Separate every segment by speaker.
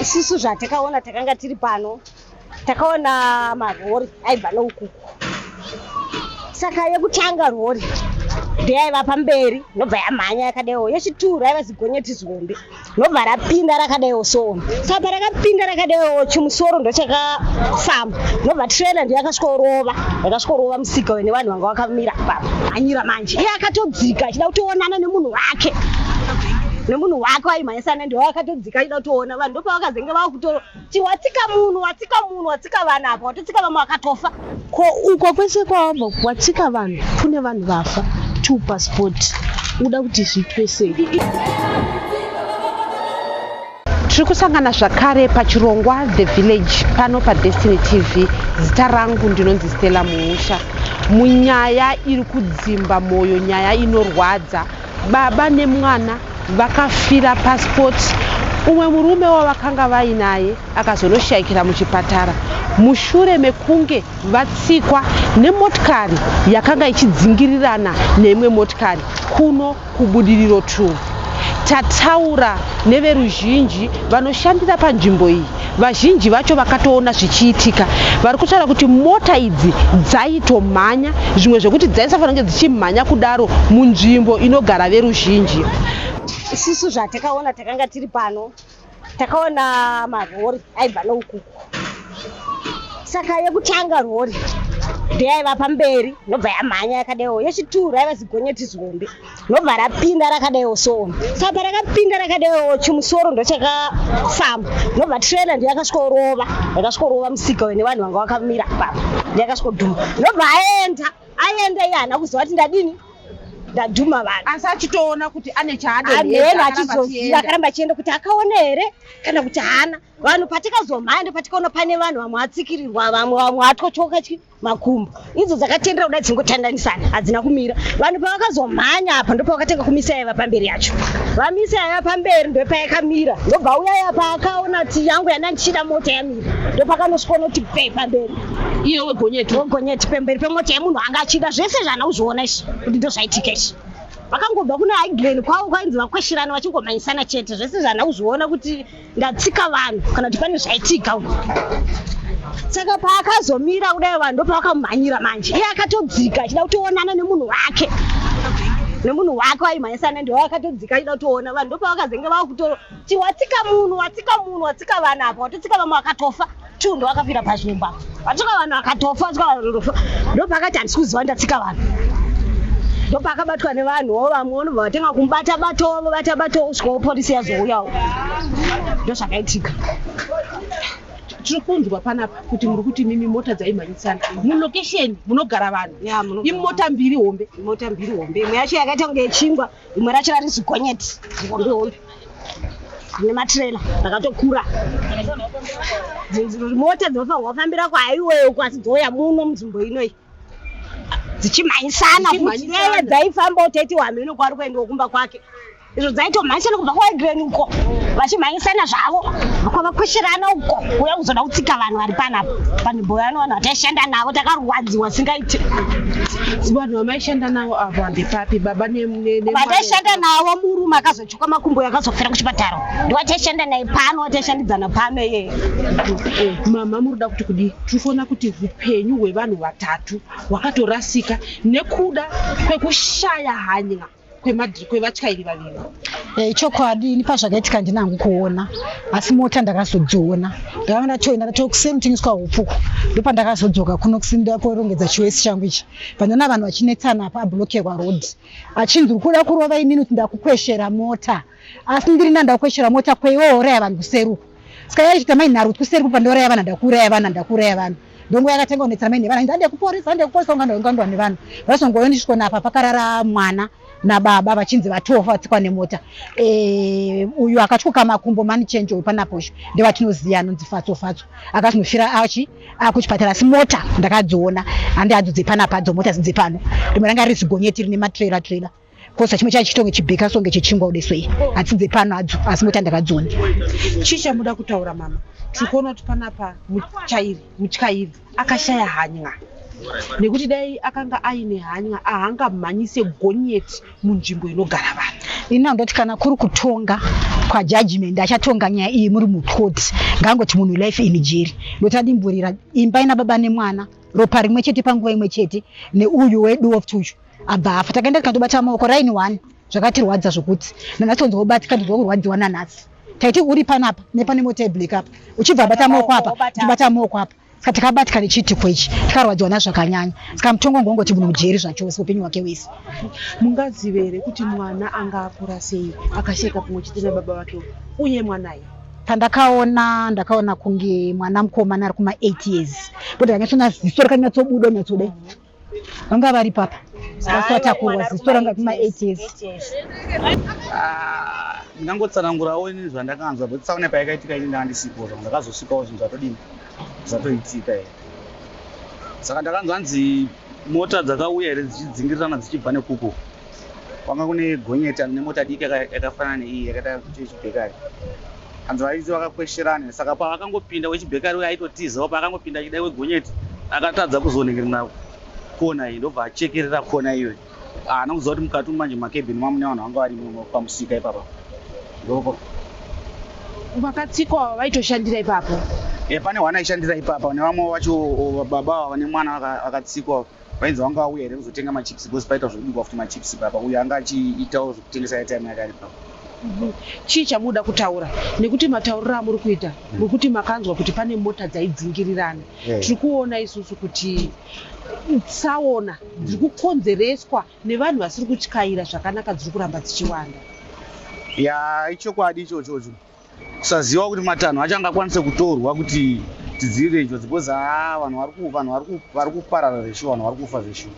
Speaker 1: Isusu zvatakaona takanga tiri pano takaona marori aibva noukuku saka yekutanga rori ndeyaiva pamberi nobva yamhanya yakadaiwo yechituru yaiva zigonyeti zihombe nobva rapinda rakadaiwo soona saka parakapinda rakadaiwo chimusoro ndochakafamba nobva trena ndiyo yakasvikorova yakasvikorova musika wene vanhu vanga vakamira papa anyira manje iye akatodzika achida kutoonana nemunhu wake nemunhu wake waimhanyisana ndiwo akatodzika ndikaida kutoona vanhu ndopavakazenge vava kutoro ti watsika munhu watsika munhu watsika vanhu apa watotsika vamwe vakatofa ko uko
Speaker 2: kwese kwawabva watsika vanhu kune vanhu vafa to passport uda kuti zviitwe sei tiri kusangana zvakare pachirongwa the village pano padestiny tv zita rangu ndinonzi stella muusha munyaya iri kudzimba mwoyo nyaya inorwadza Baba nemwana vakafira pasipoti. Umwe murume wavakanga vainaye akazonoshaikira muchipatara mushure mekunge vatsikwa nemotikari yakanga ichidzingirirana neimwe motikari kuno kubudiriro 2. Tataura neveruzhinji vanoshandira panzvimbo iyi. vazhinji vacho vakatoona zvichiitika vari kutaura kuti mota idzi dzaitomhanya zvimwe zvekuti dzaisafanira kunge dzichimhanya kudaro munzvimbo inogara veruzhinji isusu
Speaker 1: zvatakaona takanga tiri pano takaona marori aibva noukuku saka yekutanga rori ndeyaiva pamberi nobva yamhanya yakadewo yechituru yaiva zigonyeti zihombe ndobva rapinda rakadaiwo soona sa parakapinda rakadaiwo chimusoro ndochakafamba ndobva trailer ndiyakasvikorova yakasvikorova musika wene vanhu vanga vakamira papa ndiyakasvikodhuma ndobva aenda aenda iye haana kuziva kuti ndadini ndadhuma vanhu asi achitoona kuti
Speaker 2: ane chaadehena
Speaker 1: achizoziva akaramba achienda kuti akaona here kana kuti haana vanhu patikazomhaya ndopatikaona pane vanhu vamwe atsikirirwa vamwe vamwe atotyoka chii makumbo idzo dzakatendera kuda dzingotandanisana hadzina kumira vanhu pavakazomhanya apa ndopavakatanga kumisa yaiva pamberi yacho vamisa yaiva pamberi ndopaikamira ndobva uyaya paakaona ti yangu yana ndichida mota yamira ndopakanosvikona kuti pe pamberi iye wegonyeti
Speaker 2: wegonyeti pemberi pemota yemunhu
Speaker 1: anga achida zvese zvaana kuzviona izvi kuti ndozvaitika izvi vakangobva kune higlen kwavo kwainzi vakweshirana vachingomhanyisana chete zvese zvaana kuzviona kuti ndatsika vanhu kana kuti pane zvaitika uko saka paakazomira kudai vanhu ndopawakamhanyira manje iye akatodzika achida kutoonana nemunhu wake nemunhu wake waimhanyisana ndiwo akatodzika achida kutoona vanhu ndopavakazenge vava kutotiwatsika munhu watsika munhu watsika vana apa watotsika vamwe vakatofa two ndowakafira pazvimwe mbava vatsvaka vanhu akatofa atsvaka vanhu ndofa ndopaakati handisi kuziva ndatsika vanhu ndopaakabatwa nevanhu wo vamwe unobva vatanga kumubata batovo bata batovo kusvika wopolisi yazouyawo ndozvakaitika
Speaker 2: tiri kunzwa panapa kuti muri kuti mimi mota dzaimhanyisana mulocation munogara vanhu imota mbiri hombe imota mbiri hombe imwe yacho
Speaker 1: yakaita kunge yechingwa rimwe racho rari zigonyeti hombe hombe rine matirela rakatokura mota dzinofanirwa kufambira kwaiweyo kwasi dzouya muno munzvimbo inoi dzichimhanyisana kuti yeye dzaifamba utaiti wamheno kwari kuendiwa kumba kwake izvo dzaitomhanyisana kubva kwaegren uko vachimhanyisana zvavo kwavakwesherana uko uya kuzoda kutsika vanhu vari panapa panhimbo yano vanhu vataishanda navo takarwadziwa singaiti
Speaker 2: Shanda navo avo handipapi baba vataishanda
Speaker 1: navo murume akazochuka makumbo yakazofira kuchipatara ndiwataishanda naye pano wataishandidzana pano iyeye
Speaker 2: mama muruda kuti kudii tirifoona kuti upenyu hwevanhu vatatu hwakatorasika nekuda kwekushaya hanya kwemadri kwevatyairi vaviri Eh, ichokwadi ini
Speaker 3: pazvakaitika ndina hangu kuona asi mota ndakazodziona ndakanga ndatoenda ndatoa kuseni kutengeswa hupfuku ndopandakazodzoka kuno kusini ndakorongedza chiwesi changu ichi pandoona vanhu vachinetsana apa ablokerwa road achinzi uri kuda kurova inini kuti ndakukweshera mota asi ndiri nani ndakukweshera mota kwei wouraya vanhu kuseri uku ska yaichita mai nharutwi kuseri kupa ndouraya vana ndakuuraya vana ndakuuraya vana ndongo yakatanga kunetsera mai nevana ndande kuporisa ndande kuporisa ungandongandwa nevana vasongoyonisvikona apa pakarara mwana nababa vachinzi vatofa vatsikwa nemota eh, uyu akatyoka makumbo mani chenje uyu panaposho ndevatinoziva anonzi fatso fatso akatinofira achi akuchipatara asi mota ndakadziona handi hadzo dzepana padzo mota zidzepano rimwe ranga riri zigonyeti rine matrera trera kosa chimwe chacho chitonge chibheka songe chechingwa udeswei hatsidze pano adzo asi moti andakadzona chii chamuda
Speaker 2: kutaura mama tiri kuona kuti panapa muchairi mutyairi akashaya hanya nekuti dai akanga aine hanya ahangamhanyise gonyeti munzvimbo inogara vanhu ini
Speaker 3: andoti kana kuri kutonga kwajudgment achatonga nyaya iyi muri mucourt ngaangoti munhu life in jeri ndoti adimburira imba ina baba nemwana ropa rimwe chete panguva imwe chete neuyu wedu woftuyu abva afa takaenda tikatobata maoko raini one zvakatirwadza zvokuti nanhasi onzi wobatika ndinzwa kurwadziwa nanhasi taiti uri panapa nepane mota yeblack apa uchibva abata maoko apa ndibata maoko apa saka takabatika nechiitiko ichi tikarwadziwa nazvo zvakanyanya saka mutongo wanga wangoti munhu mujeri zvachose upenyu hwake wese mungazive
Speaker 2: here kuti mwana anga akura sei akasheka pamwe chete nababa vake uye mwanaye pandakaona
Speaker 3: ndakaona kunge mwana mukomana ari kuma eight years kuti kanyatsonaziso rakanyatsobuda nyatsoda vanga vari papa asi watakurwa ziso ranga kuma 8 years ah,
Speaker 4: ndingangotsanangurawo ini zvandakanzwa but saune payakaitika ini ndanga ndisipo zvangu ndakazosvikawo zvinhu zvatodini zvatoitika i saka ndakanzwa hanzi mota dzakauya here dzichidzingirirana dzichibva nekuko kwanga kune gonyeti ane mota diki yakafanana neiyi yakaita kuti yechibhekari hanzi varidzi vakakwesherana saka pavakangopinda wechibhekari uye aitotizawo paakangopinda achida wegonyeti akatadza kuzonengerera kona iyi ndobva achekerera kona iyoyi haana kuziva kuti mukati manje makebhini mamune vanhu vanga vari pamusika ipapa ndoko vakatsikwa
Speaker 2: vaitoshandira ipapo e pane hwana
Speaker 4: aishandira ipapa nevamwe vacho baba vane mwana vakatsikwa Vainzi vanga vauya here kuzotenga machips because paitwa zvekubikwa futi machips ipapa uyo anga achiitawo zvekutengesa airtime yake ari papa. chii
Speaker 2: chamuda kutaura nekuti matauriro amuri kuita Mm. nekuti makanzwa kuti pane mota dzaidzingirirana Eh. tiri kuona isusu kuti tsaona dziri kukonzereswa nevanhu vasiri kutyaira zvakanaka dziri kuramba dzichiwanda Ya
Speaker 4: ichokwadi ichochocho. kusaziva kuti matanho acho angakwanise kutorwa kuti tidzivirire njodzi because haa vanhu vari ku vanhu vari ku vari kuparara zveshuwa vanhu vari kufa zveshuwa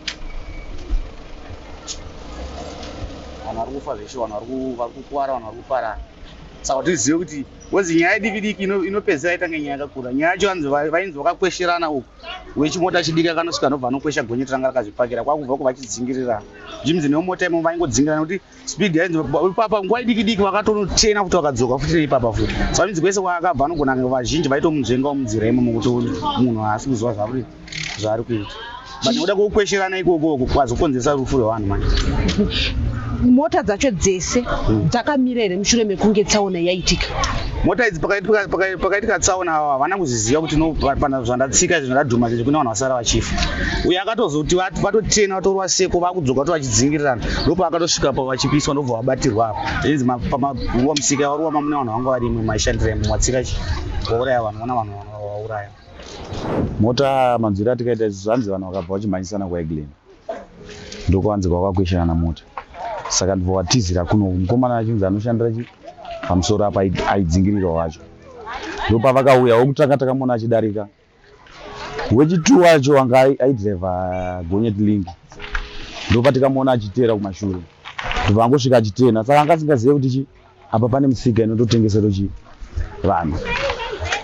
Speaker 4: vanhu vari kufa zveshuwa vanhu vari ku vari kukuvara vanhu vari kuparara saka tizive kuti wezi nyaya yediki diki ino- inopedzisira yaita nge nyaya yakakura nyaya yacho vanzi va- vainzi vakakwesherana uku wechimota chidiki akanosvika anobva anokwesha gonyeti ranga rakazvipakira kwakubva ko vachidzingirirana zvimzi nemota imo vaingodzingirirana kuti speed yainzi ipapa nguva idiki diki vakatonochena futi vakadzoka futi neipapa futi so inzi kwese kwaakabva anogona kunge vazhinji vaitomunzvengawo munzira imomo kuti munhu haasi kuziva zvauri zvaari kuita but nokuda kwekukwesherana ikokoko kwazokonzeresa rufu rwevanhu mani
Speaker 2: mota dzacho dzese hmm. dzakamira here mushure mekunge tsaona yaitika mota idzi
Speaker 4: pakaitika tsaona ava havana kuzviziva kuti nopana zvandatsika izvi zvandadhuma zvezvi kune vanhu vasara vachifa uye akatozoti vatotena vatorwa seko vakudzoka to vachidzingirana ndopaakatosvika pa vachipiswa ndobva vabatirwa apo inzi pamaruwa musika varuwa mamune vanhu vanga varimwe maishandira imwe matsika chi vauraya vanhu vana vanhu vauraya mota
Speaker 5: manzwiro atikaita isu zvanzi vanhu vakabva vachimhanyisana kwaeglen ndokwanzi kwakakweshana na mota saka ndibva watizira kuno mukomana achinzi anoshandira chi pamusoro apa aidzingirira wacho ndopavakauya wokutanga takamona achidarika Wechitu wacho anga aidriva gonyeti lingi ndopatikamuona achiteera kumashure ndobva angosvika achitena saka anga asingazive kuti chi apa pane musika inototengesero chi vanhu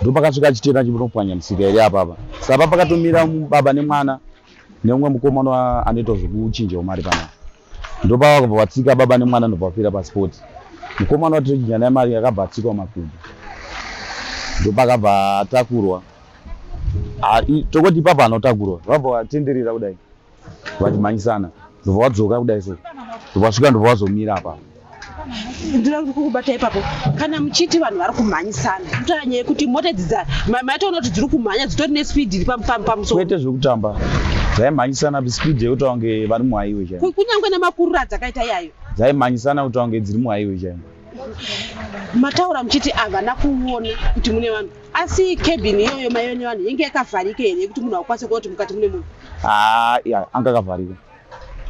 Speaker 5: ndopakasvika achitena achipopwanya musika iri apapa sapa pakatomira baba nemwana neumwe mukomana anoita zvekuchinjawo mari panapa ndopava kubva vatsika baba nemwana ndobva vapira pasipoti mukomana wati tochinja naye mari akabva atsikwa makumbo ndopakabva atakurwa tokoti ipapa anotakurwa vabva vatenderera kudai vachimhanyisana ndobva vadzoka kudai so ndobva vasvika ndobva vazomira apapa ndinoda
Speaker 2: kuti kukubata ipapo kana muchiti vanhu vari kumhanyisana kutaa nyaya yekuti mota idzi maitoona kuti dziri kumhanya dzitori nespeed iri pamusoro kwete zvekutamba
Speaker 5: dzaimhanyisana speed yekuti wange vari muhaiwe chaiyo kunyange nemakurura
Speaker 2: adzakaita iyayo dzaimhanyisana kuti wange
Speaker 5: dziri muhaiwe chaiyo
Speaker 2: mataura muchiti havana kuona kuti mune vanhu asi cabin iyoyo maive nevanhu yenge yakavharika here yekuti munhu akukwanisa kuona kuti mukati mune munhu haa ah, anga
Speaker 5: akavharika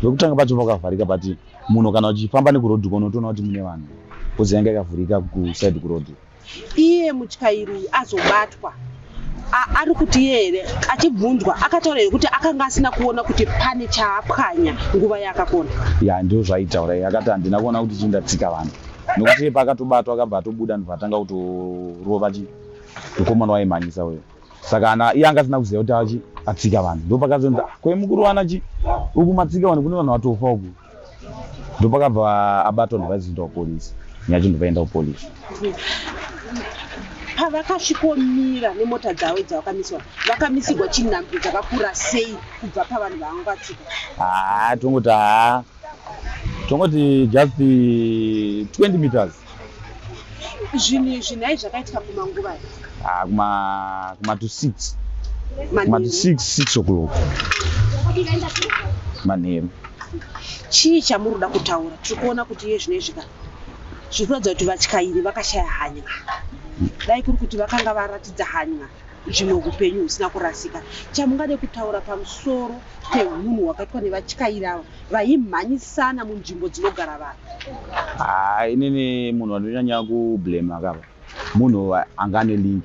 Speaker 5: vekutanga pacho pakavharika but munhu kana uchifamba nekuroad uko unotoona kuti mune vanhu kozi yanga yakavhurika kuside kuroad iye
Speaker 2: mutyairi uyu azobatwa ari kuti iye here achibvunzwa akataura here kuti akanga asina kuona kuti pane chaapwanya nguva yaakakona ya ndoo zvaitaura
Speaker 5: iye akati handina kuona kuti chii ndatsika vanhu nokuti iye paakatobatwa akabva atobuda ndobva atanga kutorova mukomana waimhanyisa uyo saka ana iye anga asina kuziva kuti achi atsika vanhu ndopakazonzi ah, kwe mukuru wana chi uku matsika vanhu kune vanhu vatofa uku ndopakabva abatwa ndivaizi kuita kupolisi nyacho ndivaenda kupolisi
Speaker 2: pavakasvikomira nemota dzavo dzavakamiswa vakamisirwa chinhambwe dzakakura sei kubva pavanhu vaanga vatsika haa ah, tongoti haa ah, tongoti
Speaker 5: just 20 meters zvinhu izvi
Speaker 2: nhai zvakaitika kumanguva ah,
Speaker 5: kuma to six kuma to six six o'clock manheru chii
Speaker 2: chamuri kuda kutaura tiri kuona kuti iye zvino izvika zviri kuratidza kuti vatyairi vakashaya hanya dai kuri kuti vakanga varatidza hanya zvimwe upenyu husina kurasika chamungade kutaura pamusoro pehunhu hwakaitwa nevatyairi ava vaimhanyisana munzvimbo dzinogara vanhu ha inini munhu
Speaker 5: wanonyanya kublema kava munhu anga ane link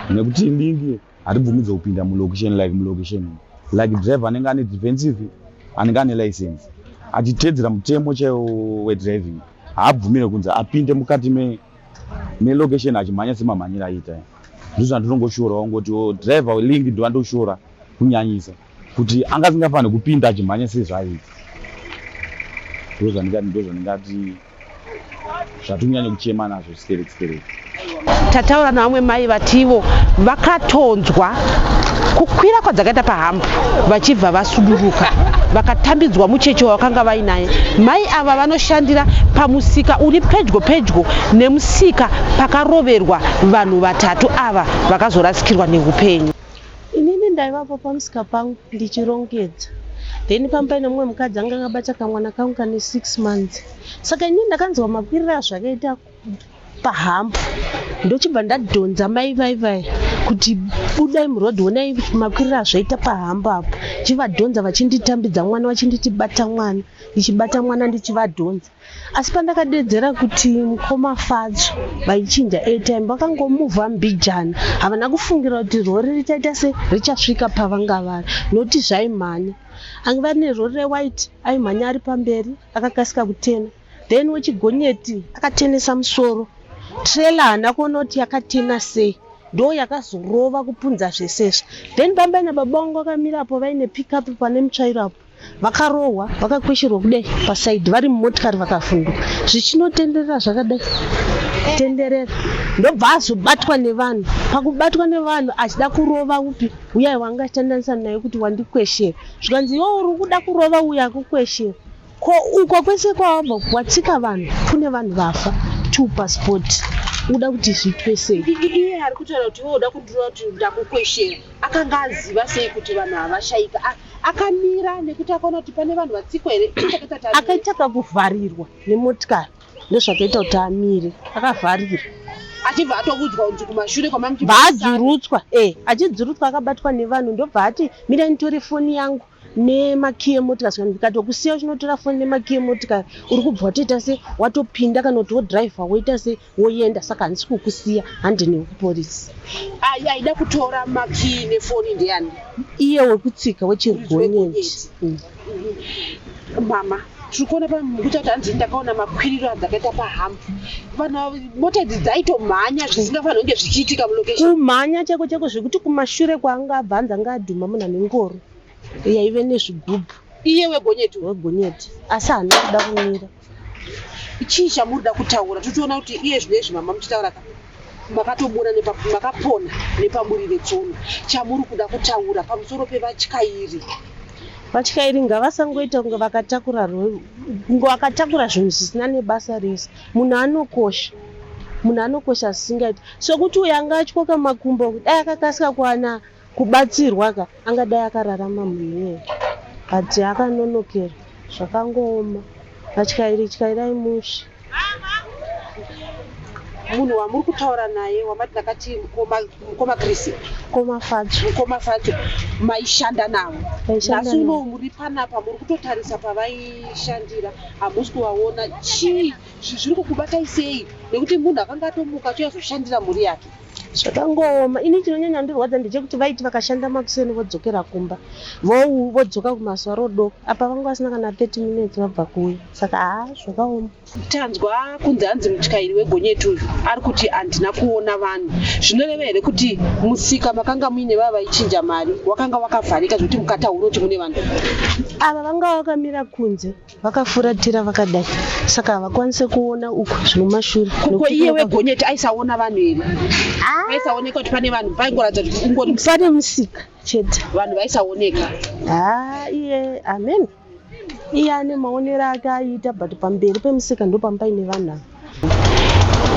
Speaker 5: nekuti link hatibvumidze kupinda mulocation like mulocation like driver anenge ane defensive anenge ane license achitedzera mutemo chaiwo wedriving haabvumire kunzi apinde mukati melocation achimhanya semamhanyira aita ndizvo zvanditongoshora wangoti oh, driver link ndivandoshora kunyanyisa kuti anga asingafanire kupinda achimhanya sezvaiti ndo zvandingati ndo zvandingati zvatinyanye kuchema nazvo stereki stereki tataura
Speaker 2: navamwe mai vativo vakatonzwa kukwira kwadzakaita pahambu vachibva vasuduruka vakatambidzwa mucheche wavakanga vainaye mai ava vanoshandira pamusika uri pedyo pedyo nemusika pakaroverwa vanhu vatatu ava vakazorasikirwa neupenyu inini
Speaker 6: ndaivapo pamusika pangu ndichirongedza then pamba paine mumwe mukadzi anga akabata kamwana kangu kane six months saka inini ndakanzwa makwirira zvakaita pahambo ndochibva ndadhonza mai vaivai kuti budai muroad honai makwirira azvaita pahambo apo chivadhonza vachinditambidza mwana vachinditi bata mwana ndichibata mwana ndichivadhonza asi pandakadeedzera kuti mukoma fadzo vaichinja airtime vakangomuvha mbijana havana kufungira kuti rori richaita se richasvika pavanga vari noti zvaimhanya ange vari nerori rewhite aimhanya ari pamberi akakasika kutena then wechigonyeti akatenesa musoro trela haana kuona kuti yakatena sei ndo yakazorova kupunza zvesezvo then bambai nababangu vakamirapo vaine pickup pane mutsvairo apo vakarohwa vakakwesherwa kudai pasaidhi vari mumotikari vakavhunduka zvichinotenderera zvakadai tenderera ndobva azobatwa nevanhu pakubatwa nevanhu achida kurova upi uyai wangatandanisa naye kuti wandikweshera zvikanzi iwo uri kuda kurova uya akukweshera ko uko kwese kwawabva watsika vanhu kune vanhu vafa two passport uda kuti zviitwe sei iye ari kutaura kuti
Speaker 2: iwe uda kundirova kuti ndakukweshera akanga aziva sei kuti vanhu havashaika akamira nekuti akaona kuti pane vanhu vatsikwa here akaita
Speaker 6: kakuvharirwa nemotikari ndozvakaita kuti amire akavharira achibva
Speaker 2: atokudzwa kunzi kumashure kwamambaadzurutswa e
Speaker 6: eh, achidzurutswa akabatwa nevanhu ndobva ati mira nitori foni yangu nemakiye motikari saka ndikatokusiya uchinotora foni nemakiye motikari uri kubva watoita se watopinda kana kuti wodriver woita se woyenda saka handisi kukusiya handi nekuporisi ayi aida
Speaker 2: kutora makii nefoni ndeyani iye wekutsika
Speaker 6: wechirigonyeti mm.
Speaker 2: mama tiri kuona pamukuita kuti hanzi ndakaona makwiriro adzakaita pahambu vanhu mota idzi dzaitomhanya zvisingafanira kunge zvichiitika mulocation kumhanya cheko cheko
Speaker 6: zvekuti kumashure kwaanga abva hanzi anga adhuma munhu ane ngoro yaive nezvigubhu iye wegonyeti
Speaker 2: wegonyeti
Speaker 6: asi hana kuda kumira
Speaker 2: chii chamuri da kutaura totiona kuti iye zvino izvi mama muchitaura ka makatobura makapona nepaburi vetsono chamuri kuda kutaura pamusoro pevatyairi vatyairi
Speaker 6: ngavasangoita kunge vakatakura kunge vakatakura zvinhu zvisina nebasa rese munhu anokosha munhu anokosha zvisingaiti sokuti uyo anga atyoka makumbo dai akakasika kuwana Kubatsirwa ka angadai akararama munhuye but akanonokera zvakangooma vatyairi tyairai mushe.
Speaker 2: Munhu wamuri kutaura naye wamati ndakati mukoma mukoma Chris Mukoma Fatsho.
Speaker 6: mukoma facho
Speaker 2: maishanda navo Maishanda nhasi navo. unowu muri panapa muri kutotarisa pavaishandira hamusi kuvaona chii zvi- zviri kukubatai sei nekuti munhu akanga atomuka achouya zoshandira mhuri yake zvakangooma
Speaker 6: ini chinonyanya ndirwadza ndechekuti vaiti vakashanda makuseni vodzokera kumba vou vodzoka kumazuva rodoko apa vanga vasina kana 30 minutes vabva kuuya saka haa zvakaoma tanzwa
Speaker 2: kunzi hanzi mutyairi wegonyeti uyu ari kuti handina kuona vanhu zvinoreva here kuti musika makanga muine vava vaichinja mari wakanga wakavharika zvekuti mukataura kuti mune vanhu ava vanga
Speaker 6: vakamira kunze vakafuratira vakadai saka havakwanise kuona uko zvinomashure kuko iye wegonyeti
Speaker 2: aisaona vanhu here ah. aisaoneka kuti pane vanhu paingoratidza kuti ungori pane musika chete
Speaker 6: vanhu vaisaoneka haa ah, iye amen iye ane maonero ake aiita but pamberi pemusika ndopamba ine vanhu ava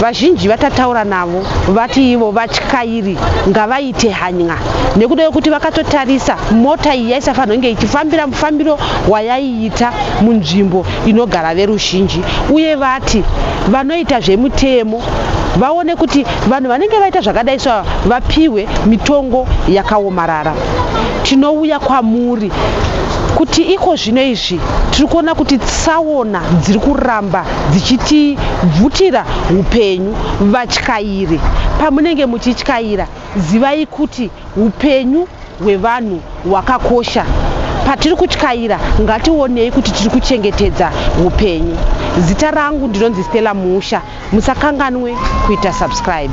Speaker 2: Vazhinji vatataura navo vati ivo vatyairi ngavaite hany'a nekuda kwekuti vakatotarisa mota iyi yaisafanira kunge ichifambira mufambiro wayaiita munzvimbo inogara veruzhinji uye vati vanoita zvemutemo vaone kuti vanhu vanenge vaita zvakadai so vapiwe mitongo yakaomarara tinouya kwamuri kuti iko zvino izvi tiri kuona kuti tsaona dziri kuramba dzichitibvutira upenyu. Vatyairi, pamunenge muchityaira zivai kuti upenyu hwevanhu hwakakosha. Patiri kutyaira ngationei kuti tiri kuchengetedza upenyu. Zita rangu ndinonzi Stella Musha. Musakanganwe kuita subscribe.